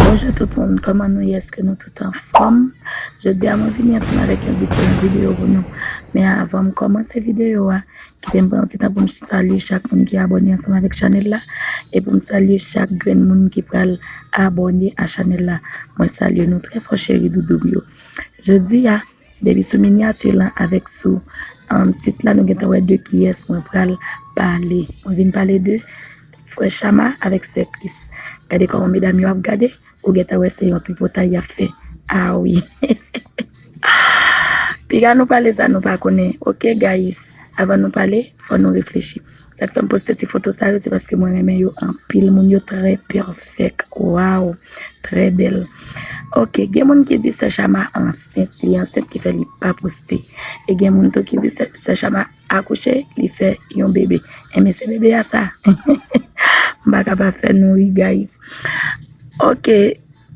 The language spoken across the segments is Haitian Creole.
Bonjou tout moun, kòman nou ye? Eske nou tout anfòm? Jodi a mwen vini ansanm avèk yon diferan videyo pou nou. Men avan m kòmanse videyo a, kite m pran yon ti tan pou m salye chak moun ki abòne ansanm avèk chanèl la, e pou m salye chak grenn moun ki pral abòne a chanèl la. Mwen salye nou trè fò cheri doudou m yo. Jodi a, Depi sou miniature lan avèk sou um, tit la nou gentan wè de kiyès mwen pral pale. Mwen vin pale de frè Chama avèk sè Kris. Gade kòman medam yo ap gade, ou gentan wè se yon tripotay y ap fè. Ah wi. Piga nou pale sa nou pa konnen. Ok guys, avan nou pale, fò nou reflechi. Sak fèm poste ti foto sa yo se paske mwen renmen yo anpil moun yo trè pèfèk waw trè bèl ok gen moun ki di sè chama ansent li ansent ki fè li pa poste e gen moun tou ki di sè chama akouche li fè yon bebe e men se bebe a sa baka pa fè nou ri guys ok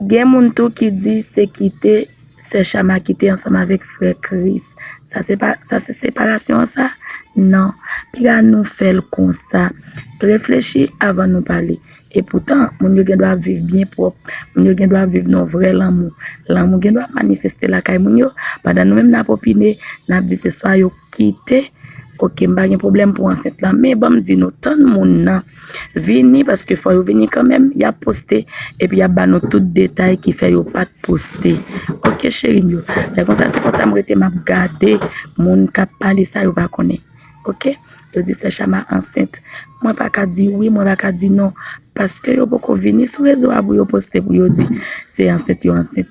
Gen moun tou ki di se kite sè Shama kite ansanm avèk frè Christ. Sa se separasyon an sa? Non. Piga nou fè l konsa. Reflechi avan nou pale. E poutan, moun yo gen dwa ap viv byen pwòp. Moun yo gen dwa ap viv nan yon vrè lanmou. Lanmou gen dwa manifeste lakay moun yo. Pandan nou menm n ap opine, n ap di se swa yo. kite ok m pa gen problèm pou ansent lan men banm di nou tann moun nan vini paske fò yo vini kanmèm ya poste epi ya ba nou tout detay ki fè yo pat poste ok cheri m yo lè konsa se konsa m rete map gade moun kap pale sa yo pa konnen ok yo di sè chama ansent mwen pa ka di wi mwen pa ka di non paske yo poko vini sou rezo a pou yo poste pou yo di se ansent yo ansent.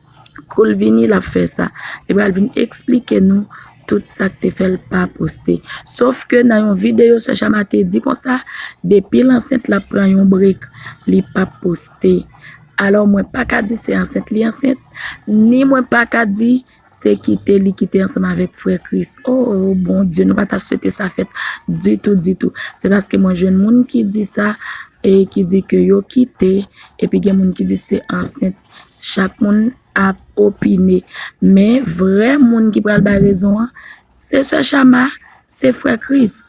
Kou l vini l ap fè sa. Li pral vin eksplike nou tout sa k te fè l pa poste. Sof ke nan yon videyo sè Shama te di konsa, depi l ansent l ap pran yon brek, li p ap poste. Alò mwen pa ka di se ansent li ansent, ni mwen pa ka di se kite li kite ansanm avèk frè Kris. Oo Bondye nou pa ta swete sa fèt ditou ditou. Se paske mwen jwenn moun ki di sa e ki di ke yo kite epi gen moun ki di se ansent Chak moun ap opine. Men vrè moun ki pral bay rezon an, se sè Shama, se frè Kris.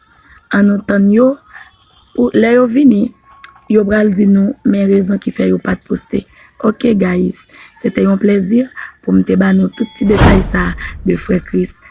An nou tann yo, pou lè yo vini, yo pral di nou men rezon ki fè yo pat poste. Ok guys, se te yon plezi pou m te ba nou tout ti detay sa de frè Kris.